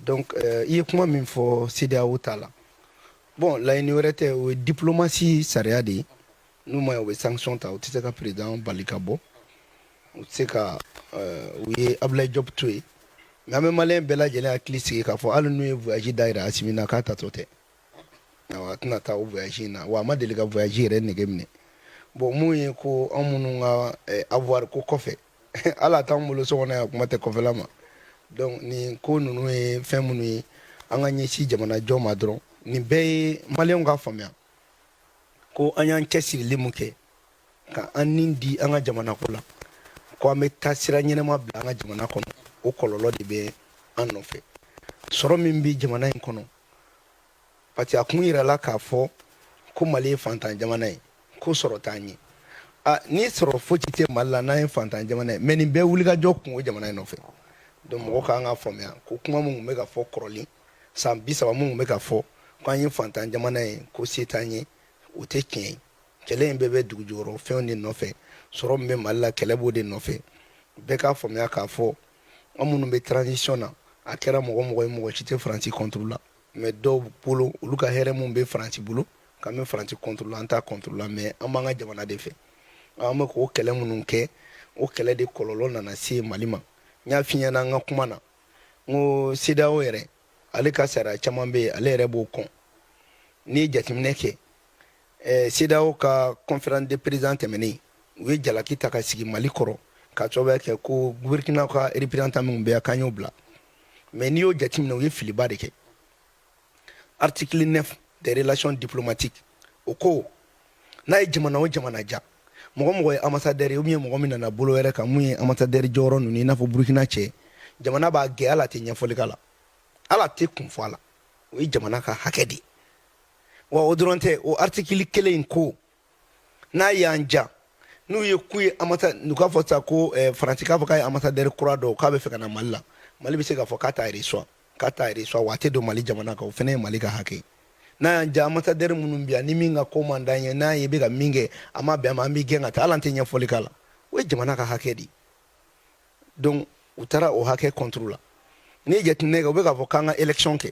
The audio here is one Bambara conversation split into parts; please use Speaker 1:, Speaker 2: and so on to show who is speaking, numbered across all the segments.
Speaker 1: Donc euh, i ye kuma min fɔ CEDEAO ta la bon laɲini wɛrɛ tɛ o ye diplomasi sariya de ye n'u ma ɲɛ u bɛ sanction ta u tɛ se ka président bali ka bɔ u tɛ se ka euh, u ye Abdoulaye Diop to yen mais an bɛ maliyɛn bɛɛ lajɛlen hakili sigi k'a fɔ hali n'u ye voyage dayɛlɛ Asimi na k'a taatɔ tɛ awa a tɛna taa o voyage in na wa a ma deli ka voyage yɛrɛ nege minɛ bon min ye ko anw minnu ka eh, avoir ko kɔfɛ hali a t'an bolo so kɔnɔ yan kuma tɛ kɔfɛla ma donc nin ko ninnu ye fɛn minnu ye an ka ɲɛsin jamana jɔ ma dɔrɔn nin bɛɛ ye maliyɛnw ka faamuya ko an y'an cɛsirili min kɛ ka an ni di an ka jamana ko la ko an bɛ ka sira ɲɛnama bila an ka jamana kɔnɔ o kɔlɔlɔ de bɛ an nɔfɛ sɔrɔ min bɛ jamana in kɔnɔ parce que a kun yirala k'a fɔ ko mali ye fantan jamana ye ko sɔrɔ t'an ye a ni sɔrɔ foyi tɛ mali la n'an ye fantan jamana ye mais nin bɛɛ wulikajɔ kun o jamana in nɔfɛ donc mɔgɔ kan k'a faamuya ko kuma min tun bɛ ka fɔ kɔrɔlen san bi saba min tun bɛ ka fɔ ko an ye fantan jamana ye ko se t'an ye o tɛ tiɲɛ ye kɛlɛ in bɛɛ bɛ dugu jukɔrɔ fɛnw de nɔfɛ sɔrɔ min bɛ mali la kɛlɛ b'o de nɔfɛ bɛɛ k'a faamuya k'a fɔ an minnu bɛ transition na a kɛra mɔgɔ mɔgɔ ye mɔgɔ si tɛ faransi contre la mais dɔw bolo olu ka hɛrɛ min bɛ faransi bolo k'an bɛ faransi contre la an t'a contre la mais an b'an ka jamana de fɛ an bɛ k'o kɛlɛ minnu kɛ o kɛlɛ de kɔlɔlɔ nana se mali ma n y'a f'i ɲɛna an ka kuma na n ko CEDEAO yɛrɛ ale ka sariya caman bɛ yen ale yɛrɛ b'o kɔn n'i ye jateminɛ kɛ eh, CEDEAO ka conférence de président tɛmɛnen u ye jalaki ta ka sigi mali kɔrɔ ka sababuya kɛ ko burkina ka représentant minnu bɛ yan k'an y'o bila mais n'i y'o jateminɛ u ye filiba de kɛ article 9 des relations diplomatiques o ko n'a ye jamana o jamana diya mɔgɔ mɔgɔ ye ambassadeur ye ou bien mɔgɔ min nana bolo wɛrɛ kan mun ye ambassadeur jɔyɔrɔ ninnu i n'a fɔ burkina cɛ jamana b'a gɛn hali a tɛ ɲɛfɔli k'a la hali a tɛ kun fɔ a la o ye jamana ka hakɛ de ye wa o dɔrɔn tɛ o article kelen in ko n'a y'an diya n'u ye k'u ye n'u k'a fɔ sa ko eh, faransi k'a fɔ k'a ye ambassadeur kura dɔw k'a bɛ fɛ ka na mali la mali bɛ se k'a fɔ k'a t'a yɛrɛ k'a t'a reçoit wa a tɛ don mali jamana kan o fana ye mali ka hakɛ ye n'a y'an diya ambassadeur minnu bɛ yan ni min ka ko man d'an ye n'a ye bɛ ka min kɛ a ma bɛn an ma an b'a gɛn ka taa hali an tɛ ɲɛfɔli k'a la o ye jamana ka hakɛ de ye donc u taara o hakɛ contre la n'i ye jateminɛ kɛ u bɛ k'a fɔ k'an ka élection kɛ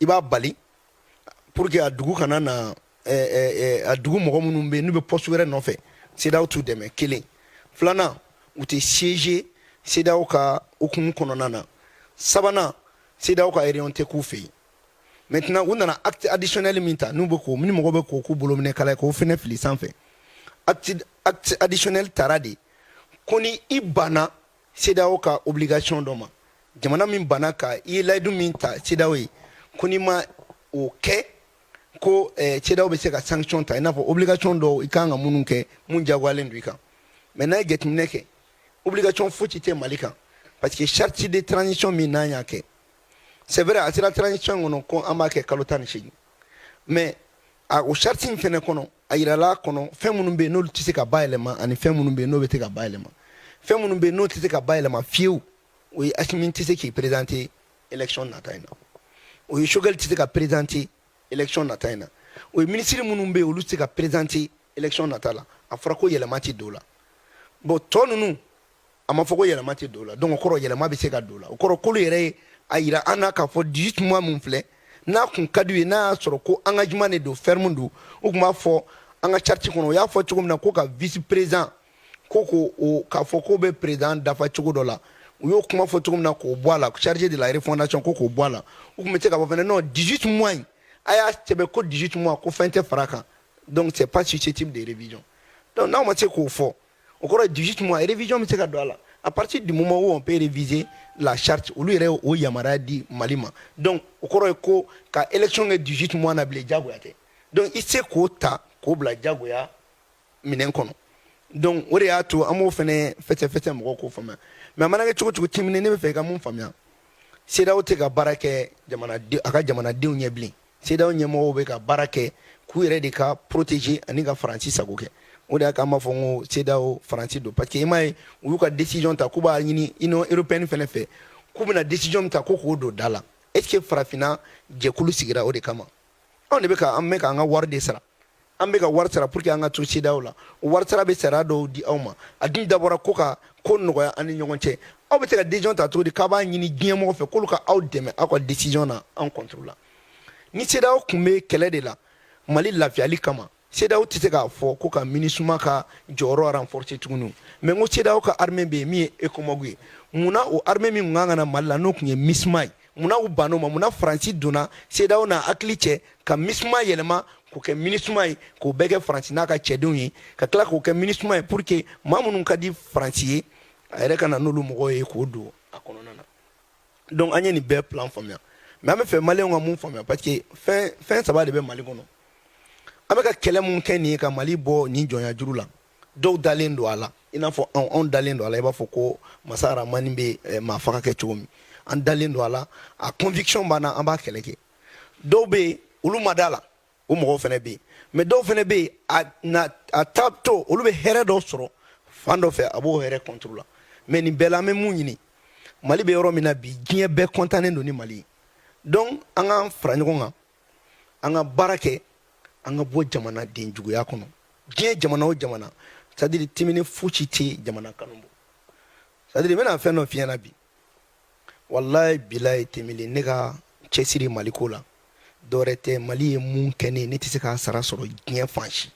Speaker 1: i b'a bali pour que a dugu kana na a dugu mɔgɔ minnu bɛ yen n'u bɛ poste wɛrɛ nɔfɛ CEDEAO t'u dɛmɛ kelen filanan u tɛ siéger CEDEAO ka hukumu kɔnɔna na sabanan CEDEAO ka réunion tɛ k'u fɛ yen maintenant u nana acte additionnel min ta n'u bɛ k'o ni mɔgɔ bɛ k'o k'u bolo minɛ kala ye k'o fɛnɛ fili sanfɛ acte acte additionnel tara de ko ni i banna CEDEAO ka obligation dɔ ma jamana min banna ka i ye layidu min ta CEDEAO ye ko n'i ma o kɛ ko eh, CEDEAO bɛ se ka sanction ta i n'a fɔ obligation dɔw i kan ka minnu kɛ mun jagoyalen don i kan mais n'a ye jateminɛ kɛ obligation fosi tɛ Mali kan parce que charte de transition min n'an y'a kɛ c'est vrai a sera transition kɔnɔ ko an b'a kɛ kalo tan ni seegin mais a o charte in fɛnɛ kɔnɔ a yirala kɔnɔ fɛn minnu bɛ yen n'olu tɛ se ka bayɛlɛma ani fɛn minnu bɛ yen n'o bɛ se ka bayɛlɛma fɛn minnu bɛ yen n'o tɛ se ka bayɛlɛma fiyewu o ye Asimi tɛ se k'i présenter élection nata in na o ye Choguel tɛ se ka présenter élection nata in na o ye ministre minnu bɛ yen olu tɛ se ka présenter élection nata la a fɔra ko yɛlɛma tɛ don o la bon tɔ ninnu a ma fɔ ko yɛlɛma tɛ don o la donc o kɔrɔ yɛlɛma bɛ se ka don o la o kɔrɔ k'olu yɛrɛ ye a yira an na k'a fɔ 18 mois min filɛ n'a kun ka d'u ye n'a y'a sɔrɔ ko engagement de don ferme don u tun b'a fɔ an ka charte kɔnɔ u y'a fɔ cogo min na ko ka vice président ko ko o k'a fɔ k'o bɛ président dafa cogo dɔ la u y'o kuma fɔ cogo min na k'o bɔ a la chargé de la refondation ko k'o bɔ a la u tun bɛ se k'a fɔ fɛnɛ non 18 mois in a y'a sɛbɛn ko 18 mois ko fɛn tɛ fara a kan donc c'est pas susceptible de révision donc n'aw ma se k'o fɔ o kɔrɔ 18 mois révision bɛ se ka don a la à partir du moment où on peut réviser la charte olu yɛrɛ o yamaruya di Mali ma donc o kɔrɔ ye ko ka élection kɛ 18 mois na bilen jagoya tɛ donc i se k'o ta k'o bila jagoya minɛn kɔnɔ donc o de y'a to an b'o fɛnɛ fɛsɛfɛsɛ mɔgɔw k'o faamuya mais a mana kɛ cogo cogo ti minɛ ne bɛ fɛ i ka mun faamuya CEDEAO tɛ ka baara kɛ a ka jamanadenw ɲɛ bilen CEDEAO ɲɛmɔgɔw bɛ ka baara kɛ k'u yɛrɛ de ka protéger ani ka Faransi sago kɛ o de y'a k'an b'a fɔ n ko CEDEAO Faransi don parce que i m'a ye u y'u ka décision ta k'u b'a ɲini Union européenne fɛnɛ fɛ k'u bɛna décision min ta ko k'o don da la est ce que farafinna jɛkulu sigira o de kama anw de bɛ ka an bɛ k'an ka wari de sara an bɛ ka wari sara pour que an ka to CEDEAO la o wari sara bɛ sariya dɔw di aw ma a dun dabɔra ko ka ko nɔgɔya an ni ɲɔgɔn cɛ aw bɛ se ka décision ta cogo di k'a b'a ɲini diɲɛ mɔgɔ fɛ k'olu ka aw dɛmɛ aw ka décision na an contre la ni CEDEAO tun bɛ kɛlɛ de la Mali lafiyali kama CEDEAO tɛ se k'a fɔ ko ka MINUSMA ka jɔyɔrɔ renforcer tuguni mais n ko CEDEAO ka armée bɛ yen min ye ECOMOG ye mun na o armée min tun ka kan ka na Mali la n'o tun ye MISMA ye munna u bann'o ma munna Faransi donna CEDEAO n'a hakili cɛ ka MISMA yɛlɛma k'o kɛ MINUSMA ye k'o bɛɛ kɛ Faransi n'a ka cɛdenw ye ka tila k'o kɛ MINUSMA ye pour que maa minnu ka di Faransi ye a yɛrɛ ka na n'olu mɔgɔw ye k'o don a kɔnɔna na donc an ye nin bɛɛ plan faamuya mais an bɛ fɛ maliyɛnw ka mun faamuya parce que fɛn saba de bɛ Mali kɔnɔ an bɛ ka kɛlɛ mun kɛ nin ye ka Mali bɔ nin jɔnya juru la dɔw dalen don a la i n'a fɔ anw anw dalen don a la i b'a fɔ ko masa aramani bɛ eh, maa faga kɛ cogo min an dalen don a la a conviction b'an na an b'a kɛlɛ kɛ dɔw bɛ yen olu ma da la o mɔgɔw fana bɛ yen mais dɔw fana bɛ yen a na a ta to olu bɛ hɛrɛ dɔ sɔrɔ fan dɔ fɛ a b'o hɛrɛ contre la mais nin bɛɛ la an bɛ mun ɲini mali bɛ yɔrɔ min na bi diɲɛ bɛɛ kɔntannen don ni mali ye donc an k'an fara ɲɔgɔn kan an ka baara kɛ an ka bɔ jamanaden juguya kɔnɔ diɲɛ jamana o jamana c'est à dire timini fosi tɛ jamana kanu bɔ c'est à dire n bɛna fɛn dɔ f'i ɲɛna bi walayi bilayi temili ne ka cɛsiri mali ko la dɔwɛrɛ tɛ mali ye mun kɛ ne ye ne tɛ se k'a sara sɔrɔ diɲɛ fan si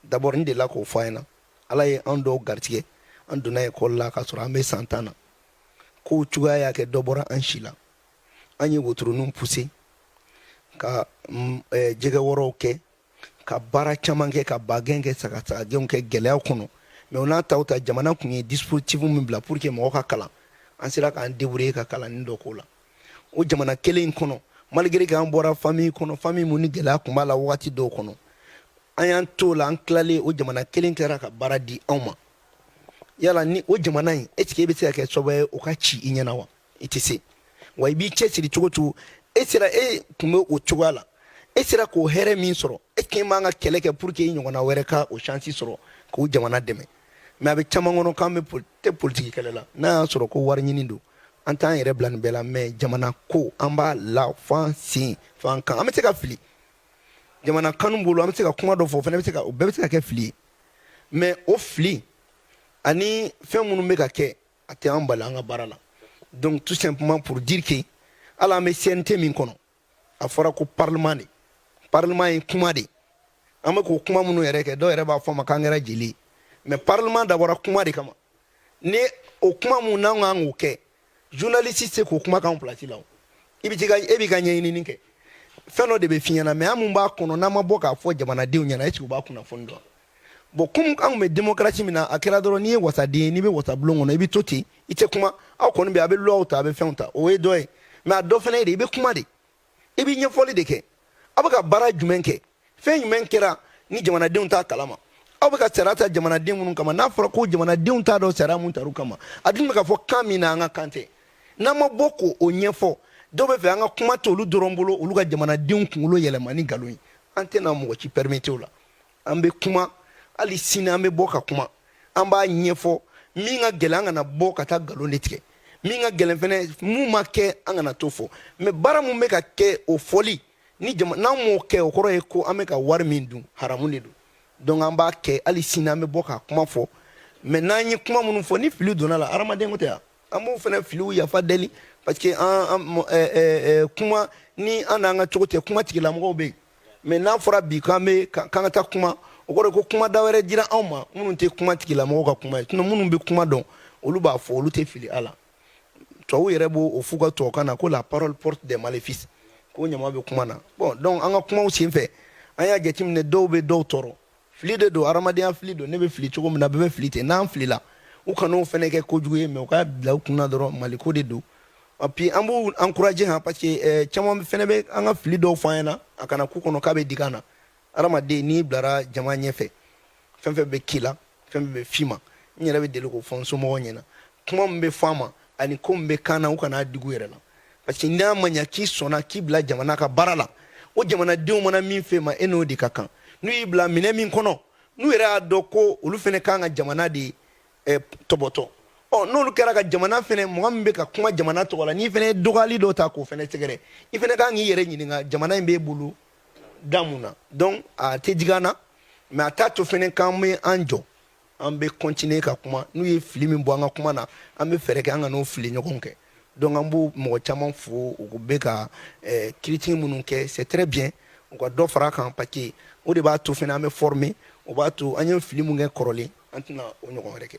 Speaker 1: d'abord n delila k'o fɔ aw ɲɛna ala ye an dɔw garijigɛ an donna ekɔli la k'a sɔrɔ an bɛ san tan na kow cogoya y'a kɛ dɔ bɔra an si la an ye wotoroninw puse ka mm, eh, jɛgɛ wɔrɔw kɛ ka baara caman kɛ ka bagɛn kɛ sagasagagɛnw kɛ gɛlɛyaw kɔnɔ mais o n'a ta o ta jamana tun ye dispositif min bila pour que mɔgɔ ka kalan an sera k'an debrouiller ka kalanni dɔ k'o la o jamana kelen in kɔnɔ malgré k'an bɔra famille kɔnɔ famille mun ni gɛlɛya tun b'a la wagati dɔw kɔnɔ an y'an t'o la an tilalen o jamana kelen kɛra ka baara di anw ma yala ni o jamana in est ce que e bɛ se ka kɛ sababu ye o ka ci i ɲɛna wa i tɛ se wa i b'i cɛsiri cogo cogo e sera e tun bɛ o cogoya la e sera k'o hɛrɛ min sɔrɔ e k'i man ka kɛlɛ kɛ pour que i ɲɔgɔnna wɛrɛ ka o chance sɔrɔ k'o jamana dɛmɛ mais a bɛ caman kɔnɔ k'an bɛ tɛ politiki kɛlɛ la n'a y'a sɔrɔ ko wari ɲini don an t'an yɛrɛ bila nin bɛɛ la mais jamana ko an b'a la f'an sen f'an kan an bɛ se ka fili jamana kanu bolo an bɛ se ka kuma dɔ fɔ o fana bɛ se ka o bɛɛ bɛ se ka kɛ fili ye mais o fili ani fɛn minnu bɛ ka kɛ a tɛ an bali an ka baara la donc tout simplement pour dire que hali an bɛ CNT min kɔnɔ a fɔra ko parlement de parlement ye kuma de an bɛ k'o kuma minnu yɛrɛ kɛ dɔw yɛrɛ b'a fɔ an ma k'an kɛra jeli ye mais parlement dabɔra kuma de kama ni o kuma mun n'an k'an k'o kɛ journaliste tɛ se k'o kuma k'an place la o i bɛ ka e b'i ka ɲɛɲinini kɛ fɛn dɔ de bɛ f'i ɲɛna mais an mun b'a kɔnɔ n'an ma bɔ k'a fɔ jamanadenw ɲɛna est ce que u b'a kunnafoni dɔn bon komi anw bɛ démocratie min na a kɛra dɔrɔn n'i ye wasaden ye n'i bɛ wasabulon kɔnɔ i bɛ to ten i tɛ kuma aw kɔni bɛ a bɛ loi ta a bɛ fɛnw ta o ye dɔ ye mais a dɔ fana ye de i bɛ kuma de i bɛ ɲɛfɔli de kɛ aw bɛ ka baara jumɛn kɛ fɛn jumɛn kɛra ni jamanadenw t'a kalama aw bɛ ka sariya ta jamanaden minnu kama n'a fɔra ko jamanadenw t'a dɔn sariya mun tar'u kama a dun bɛ ka fɔ kan min na an ka kan tɛ n'an ma bɔ k'o ɲɛfɔ dɔw b'a fɛ an ka kuma to olu dɔrɔn bolo olu ka jamanadenw kunkolo yɛlɛma ni nkalon ye an tɛna mɔgɔ si pɛrimete o la an bɛ kuma hali sini an bɛ bɔ ka kuma an b'a ɲɛfɔ min ka gɛlɛn an kana bɔ ka taa nkalon de tigɛ min ka gɛlɛn fɛnɛ mun ma kɛ an kana t'o fɔ mais baara mun bɛ ka kɛ o fɔli ni jama n'an m'o kɛ o kɔrɔ ye ko an bɛ ka wari min dun haramu de don donc an b'a kɛ hali sini an bɛ bɔ ka kuma fɔ mais n'an ye kuma minnu fɔ ni fili donn'a la hadamaden ko tɛ ɲa an b'o fɛnɛ filiw yafa deli parce que an kuma ni an n'an ka cogo tɛ kuma tigilamɔgɔw bɛ yen mais n'a fɔra bi k'an bɛ k'an ka taa kuma o kɔrɔ ko kuma da wɛrɛ dira anw ma minnu tɛ kuma tigilamɔgɔw ka kuma ye sinon minnu bɛ kuma dɔn olu b'a fɔ olu tɛ fili a la tubabuw yɛrɛ b'o f'u ka tubabukan na ko la parole porte des maléfices ko ɲama bɛ kuma na bon donc an ka kumaw senfɛ an y'a jateminɛ dɔw bɛ dɔw tɔɔrɔ fili de don hadamadenya fili don ne bɛ fili cogo min na bɛɛ bɛ fili ten n'an filila u kan'o fɛnɛ kɛ kojugu ye mais u k'a bila u kunna dɔrɔn maliko de don puis an b'u encourager han parce que eh, caman fɛnɛ bɛ an ka fili dɔw fɔ an ɲɛna a kana k'u kɔnɔ k'a bɛ digi an na hadamaden n'i bilara jama ɲɛfɛ fɛn fɛn bɛ k'i la fɛn fɛn bɛ f'i ma n yɛrɛ bɛ deli k'o fɔ n somɔgɔw ɲɛna kuma min bɛ fɔ an ma ani ko min bɛ k'an na u kana dig'u yɛrɛ la parce que n'a ma ɲa k'i sɔnna k'i bila jamana ka baara la o jamanadenw mana min f'e ma e n'o de ka kan n'u y'i bila minɛ min kɔnɔ n'u yɛrɛ y'a dɔn ko olu fɛnɛ kan ka jamana de eh, tɔbɔtɔ ɔ n'olu kɛra ka jamana fɛnɛ mɔgɔ min bɛ ka kuma jamana tɔgɔ la n'i fɛnɛ ye dɔgɔyali dɔ ta k'o fɛnɛ sɛgɛrɛ i fɛnɛ kan k'i yɛrɛ ɲininka jamana in b'e bolo da mun na donc a tɛ digi an na mais a t'a to fɛnɛ k'an bɛ an jɔ an bɛ continuer ka kuma n'u ye fili min bɔ an ka kuma na an bɛ fɛɛrɛ kɛ an kan'o fili ɲɔgɔn kɛ donc an b'o mɔgɔ caman fo u bɛ ka eh, critique minnu kɛ c'est très bien u ka dɔ fara a kan parce que o de b'a to fɛnɛ an bɛ former o b'a to an ye fili min kɛ kɔrɔlen an tɛna o ɲɔgɔn wɛrɛ kɛ